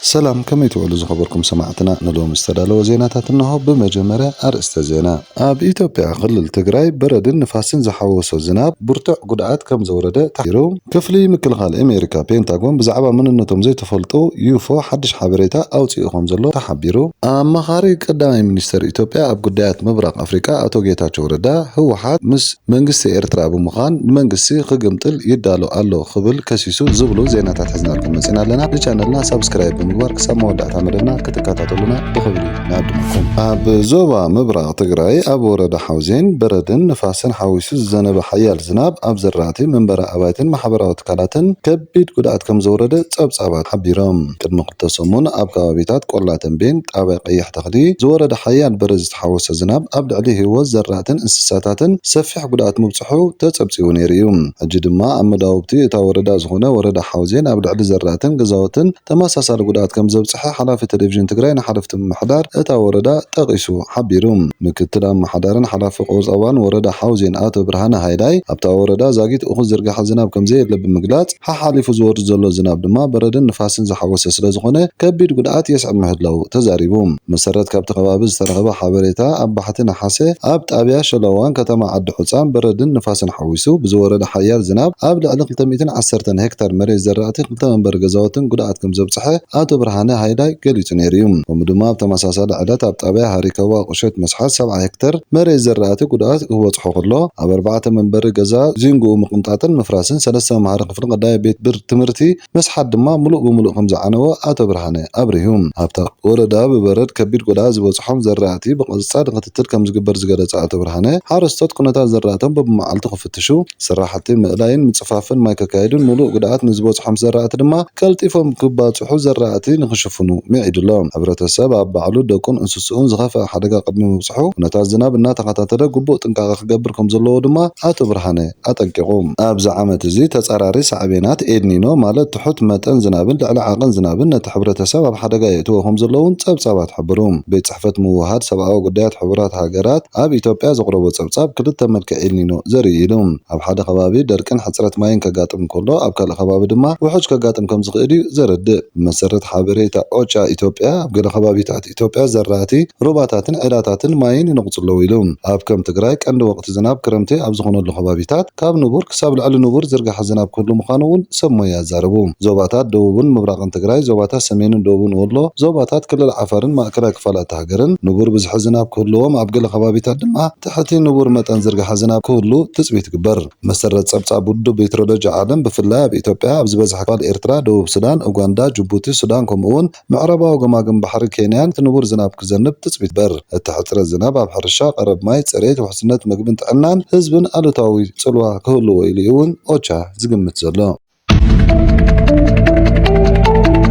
ሰላም ከመይ ትውዕሉ ዝኸበርኩም ሰማዕትና ንሎሚ ዝተዳለወ ዜናታት እነሆ ብመጀመርያ ኣርእስተ ዜና። ኣብ ኢትዮጵያ ክልል ትግራይ በረድን ንፋስን ዝሓወሶ ዝናብ ብርቱዕ ጉድኣት ከምዘውረደ ተሓቢሩ። ክፍሊ ምክልኻል ኤሜሪካ ፔንታጎን ብዛዕባ መንነቶም ዘይተፈልጡ ዩፎ ሓድሽ ሓበሬታ ኣውጺኡ ከምዘሎ ተሓቢሩ። ኣማኻሪ ቀዳማይ ሚኒስተር ኢትዮጵያ ኣብ ጉዳያት ምብራቕ ኣፍሪቃ ኣቶ ጌታቸው ረዳ ህወሓት ምስ። መንግስቲ ኤርትራ ብምዃን ንመንግስቲ ክግምጥል ይዳሎ ኣሎ ክብል ከሲሱ ዝብሉ ዜናታት ሒዝናልኩም መጺና ኣለና። ንቻነልና ሳብስክራይብ ብምግባር ክሳብ መወዳእታ መደብና ክትከታተሉና ብኽብሪ ንዕድመኩም። ኣብ ዞባ ምብራቕ ትግራይ ኣብ ወረዳ ሓውዜን በረድን ንፋስን ሓዊሱ ዝዘነበ ሓያል ዝናብ ኣብ ዘራእቲ፣ መንበሪ ኣባይትን ማሕበራዊ ትካላትን ከቢድ ጉድኣት ከምዘውረደ ጸብጻባት ሓቢሮም። ቅድሚ ኣብቲ ሰሙን ኣብ ከባቢታት ቆላ ተምቤን፣ ጣብያ ቀይሕ ተኽሊ፣ ዝወረደ ሓያል በረድ ዝተሓወሶ ዝናብ ኣብ ልዕሊ ህይወት ዘራእትን እንስሳታትን ሰፊሕ ጉድኣት ምብፅሑ ተፀብፂቡ ነይሩ እዩ። ሕጂ ድማ ኣብ መዳውብቲ እታ ወረዳ ዝኾነ ወረዳ ሓውዜን ኣብ ልዕሊ ዘራእትን ገዛውትን ተመሳሳሊ ጉድኣት ከምዘብፅሐ ሓላፊ ቴሌቪዥን ትግራይ ንሓለፍቲ ምምሕዳር እታ ወረዳ ጠቒሱ ሓቢሩ። ምክትል ኣመሓዳርን ሓላፊ ቁጠባን ወረዳ ሓውዜን ኣቶ ብርሃነ ሃይላይ ኣብታ ወረዳ ዛጊት እኹል ዝርገሐ ዝናብ ከምዘየለ ብምግላፅ፣ ሓሓሊፉ ዝወርድ ዘሎ ዝናብ ድማ በረድን ንፋስን ዝሓወሰ ስለዝኾነ ከቢድ ጉድኣት የስዕብ ምህላዉ ተዛሪቡ። ብመሰረት ካብቲ ከባቢ ዝተረኸበ ሓበሬታ ኣብ ባሕቲ ነሓሰ ኣብ ጣብያ ሸለዋን ከተማ ዓዲ ሑፃን በረድን ንፋስን ሓዊሱ ብዝወረደ ሓያል ዝናብ ኣብ ልዕሊ ክልተ ሚእትን ዓሰርተን ሄክታር መሬት ዘራእቲ ክልተ መንበሪ ገዛውትን ጉድኣት ከምዘብፅሐ ኣቶ ብርሃነ ሃይላይ ገሊጹ ነይሩ እዩ። ከምኡ ድማ ኣብ ተመሳሳሊ ዕለት ኣብ ጣብያ ሃሪከዋ ቁሸት መስሓት ሰብዓ ሄክተር መሬት ዝራእቲ ጉድኣት ክበጽሖ ከሎ ኣብ ኣርባዕተ መንበሪ ገዛ ዚንግኡ ምቕንጣጥን ምፍራስን ሰለስተ መምሃሪ ክፍሊ ቀዳማይ ቤት ብር ትምህርቲ መስሓት ድማ ምሉእ ብምሉእ ከምዝዓነወ ኣቶ ብርሃነ ኣብሪሁ። ኣብታ ወረዳ ብበረድ ከቢድ ጉድኣት ዝበጽሖም ዘራእቲ ብቐጻሊ ክትትል ከምዝግበር ዝገለጸ ኣቶ ብርሃነ ሓረስቶት ኩነታት ዘራእቶም በብመዓልቱ ክፍ። ክፍትሹ፣ ስራሕቲ ምእላይን ምፅፋፍን ማይ ከካይዱን ሙሉእ ጉድኣት ንዝበፅሖም ዘራእቲ ድማ ቀልጢፎም ክባፅሑ ዘራእቲ ንክሽፍኑ ምዒዱ ኣሎ። ሕብረተሰብ ኣብ ባዕሉ፣ ደቁን እንስስኡን ዝኸፈኣ ሓደጋ ቅድሚ ምብፅሑ ኩነታት ዝናብ እናተኸታተለ ግቡእ ጥንቃቐ ክገብር ከምዘለዎ ድማ ኣቶ ብርሃነ ኣጠንቂቑ። ኣብዚ ዓመት እዚ ተፃራሪ ሳዕቤናት ኤልኒኖ ማለት ትሑት መጠን ዝናብን ልዕሊ ዓቕን ዝናብን ነቲ ሕብረተሰብ ኣብ ሓደጋ የእትዎ ከምዘሎ እውን ፀብፃባት ሓበሩ። ቤት ፅሕፈት ምውህሃድ ሰብኣዊ ጉዳያት ሕቡራት ሃገራት፣ ኣብ ኢትዮጵያ ዘቕረቦ ጸብጻብ፣ ክልተ መልክዕ ኤልኒኖ ዘርኢ ኢሉ። ኣብ ሓደ ከባቢ ደርቅን ሕጽረት ማይን ከጋጥም እንከሎ፣ ኣብ ካልእ ከባቢ ድማ ውሑጅ ከጋጥም ከም ዝኽእል'ዩ ዘረድእ። ብመሰረት ሓበሬታ ኦቻ ኢትዮጵያ፣ ኣብ ገለ ከባቢታት ኢትዮጵያ ዘራእቲ፣ ሩባታትን ዒላታትን ማይን ይነቕጹ ኣለዉ ኢሉ። ኣብ ከም ትግራይ ቀንዲ ወቕቲ ዝናብ ክረምቲ ኣብ ዝዀነሉ ከባቢታት፣ ካብ ንቡር ክሳብ ልዕሊ ንቡር ዝርገሐ ዝናብ ክህሉ ምዃኑ'ውን ሰብ ሞያ ኣዛረቡ። ዞባታት ደቡብን ምብራቕን ትግራይ፣ ዞባታት ሰሜንን ደቡብን ወሎ፣ ዞባታት ክልል ዓፋርን ማእከላይ ክፋል እታ ሃገርን ንቡር ብዝሒ ዝናብ ክህልዎም ኣብ ገለ ከባቢታት ድማ ትሕቲ ንቡር መጠን ዝርገሐ ዝናብ ክህሉ ትጽቢት ይግበር። ብመሰረት ጸብጻብ ውድብ ሜትሮሎጂ ዓለም ብፍላይ ኣብ ኢትዮጵያ ኣብ ዝበዝሐ ክፋል ኤርትራ፣ ደቡብ ሱዳን፣ ኡጋንዳ፣ ጅቡቲ፣ ሱዳን ከምኡ'ውን። ምዕራባዊ ገማግም ባሕሪ ኬንያን እቲ ንቡር ዝናብ ክዘንብ ትጽቢት በር። እቲ ሕጽረት ዝናብ ኣብ ሕርሻ፣ ቀረብ ማይ፣ ጽሬት፣ ውሕስነት መግብን ጥዕናን ህዝብን ኣሉታዊ ጽልዋ ክህልዎ ኢሉ'ዩ እውን ኦቻ ዝግምት ዘሎ።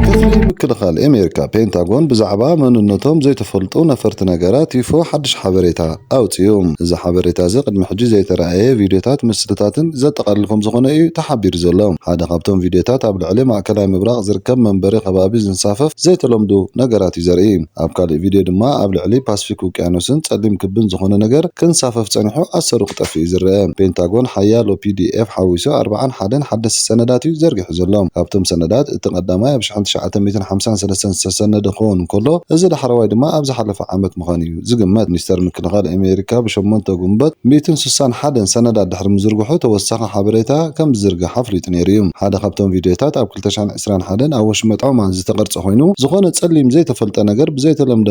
ክፍሊ ምክልኻል ኣሜሪካ፣ ፔንታጎን፣ ብዛዕባ መንነቶም ዘይተፈልጡ ነፈርቲ ነገራት፣ ዩፎ፣ ሓድሽ ሓበሬታ። ኣውጺኡ። እዚ ሓበሬታ እዚ ቅድሚ ሕጂ ዘይተራእየ ቪድዮታትን ምስልታትን ዘጠቓልል ከምዝኾነ እዩ ተሓቢሩ ዘሎ። ሓደ ካብቶም ቪድዮታት ኣብ ልዕሊ ማእከላይ ምብራቕ ዝርከብ መንበሪ ከባቢ ዝንሳፈፍ ዘይተለምዱ ነገራት እዩ ዘርኢ። ኣብ ካልእ ቪድዮ ድማ ኣብ ልዕሊ ፓስፊክ ውቅያኖስን ጸሊም ክብን ዝኾነ ነገር ክንሳፈፍ ጸኒሑ ኣሰሩ ክጠፍእ እዩ ዝረኣ። ፔንታጎን ሓያሎ ፒዲኤፍ ሓዊሱ ኣርብዓን ሓደን ሓደስቲ ሰነዳት እዩ ዘርጊሑ ዘሎ። ካብቶም ሰነዳት እቲ ቀዳማይ ኣብ ሽሕን ትሽዓተ ሚእትን ሓምሳን ሰለስተን ዝተሰነደ ክኸውን እንከሎ እዚ ዳሕረዋይ ድማ ኣብ ዝሓለፈ ዓመት ምዃኑ እዩ። ዝግመት ሚኒስተር ምክልኻል ኣሜሪካ ብሸሞንተ ግንቦት ሚእትን ስሳን ሓደን ሰነዳት ድሕሪ ምዝርግሑ ተወሳኺ ሓበሬታ ከም ዝዝርጋሕ ኣፍሊጡ ነይሩ እዩ። ሓደ ካብቶም ቪድዮታት ኣብ ክልተ ሽሕን ዕስራን ሓደን ኣብ ወሽመጥ ዖማን ዝተቐርጸ ኮይኑ፣ ዝኾነ ጸሊም ዘይተፈልጠ ነገር ብዘይተለምደ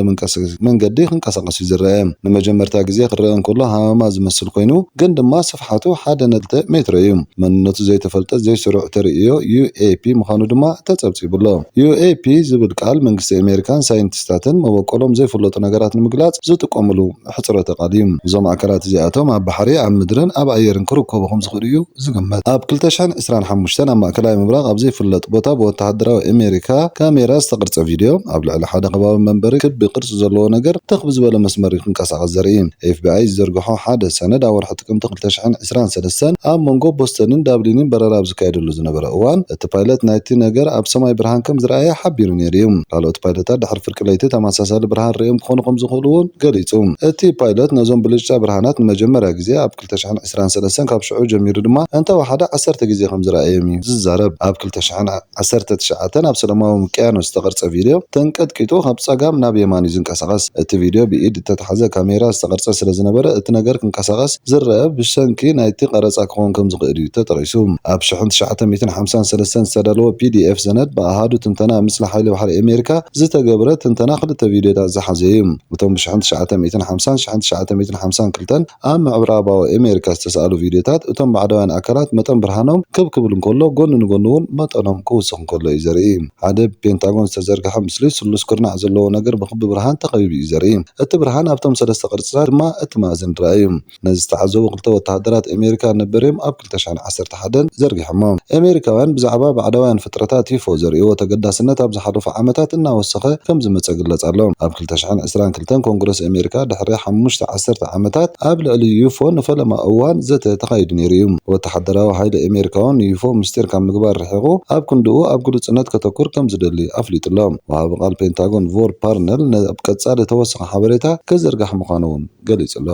መንገዲ ክንቀሳቐስ እዩ ዝረኣ። ንመጀመርታ ግዜ ክረኣ እንከሎ ሃመማ ዝመስል ኮይኑ ግን ድማ ስፍሓቱ ሓደ ነጥቢ ሜትሮ እዩ። መንነቱ ዘይተፈልጠ ዘይስሩዕ ተርእዮ ዩኤፒ ምዃኑ ድማ ተጸብጺቡ'ሎ። ዩኤፒ ዝብል ቃል መንግስቲ ኣሜሪካን ሳይንቲስታትን መበቆሎም ዘይፍለጡ ነገራት ንምግላጽ ዝጥቀሙሉ ምሕጽረተ ቃል እዩ። እዞም ኣካላት እዚኣቶም ኣብ ባሕሪ፣ ኣብ ምድርን ኣብ ኣየርን ክርከቡ ከም ዝኽእሉ እዩ ዝግመት። ኣብ ክልተ ሽሕን ዕስራን ሓሙሽተን ኣብ ማእከላይ ምብራቕ ኣብ ዘይፍለጥ ቦታ ብወተሃደራዊ ኣሜሪካ ካሜራ ዝተቐርጸ ቪድዮ፣ ኣብ ልዕሊ ሓደ ከባቢ መንበሪ ክቢ ቅርጺ ዘለዎ ነገር ትኽ ብዝበለ መስመር ክንቀሳቐስ ዘርኢ። ኤፍቢኣይ ዝዘርግሖ ሓደ ሰነድ ኣብ ወርሒ ጥቅምቲ ክልተ ሽሕን ዕስራን ሰለስተን ኣብ መንጎ ቦስተንን ዳብሊንን በረራ ኣብ ዝካየደሉ ዝነበረ እዋን እቲ ፓይለት ናይቲ ነገር ኣብ ሰማይ ብርሃን ከም ዝረኣየ ሓቢሩ ነይሩ እዩ። ካልኦት ፓይለታት ድሕሪ ፍርቂ ለይቲ ተመሳሳሊ ብርሃን ርእዮም ክኾኑ ከም ዝኽእሉ እውን ገሊጹ። እቲ ፓይለት ነዞም ብልጭታ ብርሃናት ንመጀመርያ ግዜ ኣብ ክልተ ሽሕን ዕስራን ሰለስተን ካብ ሽዑ ጀሚሩ ድማ እንተወሓደ ዓሰርተ ግዜ ከም ዝረኣዮም እዩ ዝዛረብ። ኣብ ክልተ ሽሕን ዓሰርተ ትሽዓተ፣ ኣብ ሰለማዊ ውቅያኖስ ዝተቐርጸ ቪድዮ፣ ተንቀጥቂጡ ካብ ጸጋም ናብ የማን እዩ ዝንቀሳቐስ። እቲ ቪድዮ ብኢድ እተታሕዘ ካሜራ ዝተቐርጸ ስለ ዝነበረ፣ እቲ ነገር ክንቀሳቐስ ዝረኣ ብሰንኪ ናይቲ ቀረጻ ክኸውን ከም ዝኽእል እዩ ተጠቒሱ። ኣብ ሽሕን ትሽዓተ ሚእትን ሓምሳን ሰለስተን ዝተዳለወ ፒዲኤፍ ሰነድ ብኣሃዱ ትንተና ምስሊ ሓይሊ ባሕሪ ኣሜሪካ ዝተገብረ ትንተና ክልተ ቪድዮታት ዝሓዘ እዩ። እቶም ብሽሕን ትሽዓተ ሚእትን ሓምሳን ሽሕን ትሽዓተ ሚእትን ሓምሳን ክልተን ኣብ ምዕራባዊ ኣሜሪካ ዝተሳእሉ ቪድዮታት፣ እቶም ባዕዳውያን ኣካላት መጠን ብርሃኖም ክብ ክብል እንከሎ፣ ጎኒ ንጎኒ እውን መጠኖም ክውስኽ እንከሎ እዩ ዘርኢ። ሓደ ብፔንታጎን ዝተዘርግሐ ምስሊ፣ ስሉስ ኩርናዕ ዘለዎ ነገር ብክቢ ብርሃን ተኸቢቡ እዩ ዘርኢ። እቲ ብርሃን ኣብቶም ሰለስተ ቅርጺታት ድማ እትማእዝን ርኣዩ። ነዚ ዝተዓዘቡ ክልተ ወተሃደራት ኣሜሪካ ንበርዮም ኣብ ክልተሽሕን ዓሰርተ ሓደን ዘርጊሖሞ። ኤሜሪካውያን ብዛዕባ ባዕዳውያን ፍጥረታት ዩፎ ዘርእይዎ ተገዳስነት ኣብ ዝሓለፉ ዓመታት እናወሰኸ ከም ዝመጸ ይግለጽ ኣሎ። ኣብ ክልተሽሕን ዕስራን ክልተን ኮንግረስ ኤሜሪካ ድሕሪ ሓሙሽተ ዓሰርተ ዓመታት ኣብ ልዕሊ ዩፎ ንፈለማ እዋን ዘተ ተኻይዱ ነይሩ እዩ። ወተሓደራዊ ሓይሊ ኤሜሪካውን ንዩፎ ምስጢር ካብ ምግባር ርሒቑ ኣብ ክንድኡ ኣብ ግሉጽነት ከተኩር ከም ዝደሊ ኣፍሊጡ ኣሎ። ወሃቢ ቃል ፔንታጎን ቮር ፓርነል ኣብ ቀጻሊ ተወሳኺ ሓበሬታ ክዝርጋሕ ምዃኑ'ውን ገሊጹ ኣሎ።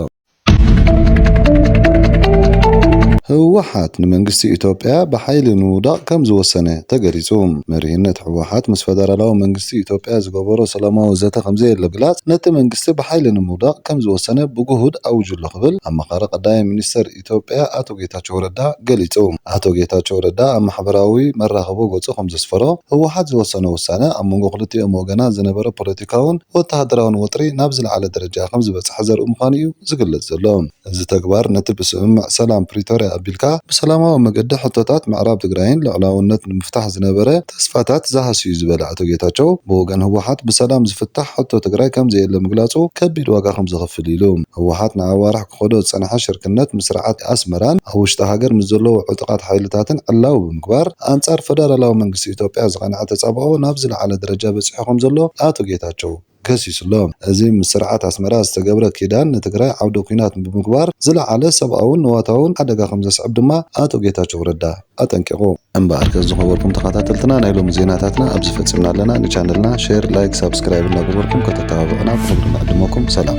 ህወሓት ንመንግስቲ ኢትዮጵያ ብሓይሊ ንምውዳቕ ከምዝወሰነ ተገሊፁ። መሪሕነት ህወሓት ምስ ፈደራላዊ መንግስቲ ኢትዮጵያ ዝገበሮ ሰላማዊ ዘተ ከምዘየለ ብምግላፅ ነቲ መንግስቲ ብሓይሊ ንምውዳቕ ከምዝወሰነ ብግሁድ ኣዊጁ'ሎ ክብል ኣማኻሪ ቀዳማይ ሚኒስትር ኢትዮጵያ ኣቶ ጌታቸው ረዳ ገሊፁ። ኣቶ ጌታቸው ረዳ ኣብ ማሕበራዊ መራኸቦ ገፁ ከምዘስፈሮ፣ ህወሓት ዝወሰኖ ውሳነ ኣብ መንጎ ክልቲኦም ወገናት ዝነበረ ፖለቲካዊ ፖለቲካውን ወተሃደራውን ወጥሪ ናብ ዝለዓለ ደረጃ ከምዝበጽሐ ዘርኢ ምዃኑ'ዩ ዝግለጽ ዘሎ። እዚ ተግባር ነቲ ብስምምዕ ሰላም ፕሪቶርያ ኣቢልካ ብሰላማዊ መገዲ ሕቶታት ምዕራብ ትግራይን ልዑላውነት ንምፍታሕ ዝነበረ ተስፋታት ዝሃስዩ'ዩ ዝበለ ኣቶ ጌታቸው፣ ብወገን ህወሓት ብሰላም ዝፍታሕ ሕቶ ትግራይ ከምዘየለ ምግላጹ ከቢድ ዋጋ ከምዘኽፍል ኢሉ። ህወሓት ንኣዋርሕ ክኸዶ ዝጸንሐ ሽርክነት ምስ ስርዓት ኣስመራን ኣብ ውሽጢ ሃገር ምስ ዘለዉ ዕጡቓት ሓይልታትን ዕላዊ ብምግባር ኣንጻር ፈደራላዊ መንግስቲ ኢትዮጵያ ዝቐንዐ ተጻብኦ ናብ ዝለዓለ ደረጃ በጺሑ ከምዘሎ ኣቶ ጌታቸው ከሲሱ'ሎ። እዚ ምስ ስርዓት ኣስመራ ዝተገብረ ኪዳን ንትግራይ ዓውደ ኲናት ብምግባር ዝለዓለ ሰብኣውን ንዋታውን ሓደጋ ከምዘስዕብ ድማ ኣቶ ጌታቸው ረዳ። ኣጠንቂቑ። እምበኣር ከ ዝኸበርኩም ተኻታተልትና ናይ ሎሚ ዜናታትና ኣብዚ ፈጺምና ኣለና። ንቻነልና ሼር፣ ላይክ፣ ሳብስክራይብ እናገበርኩም ከተተባብዑና ብኽብሪ ንዕድመኩም። ሰላም።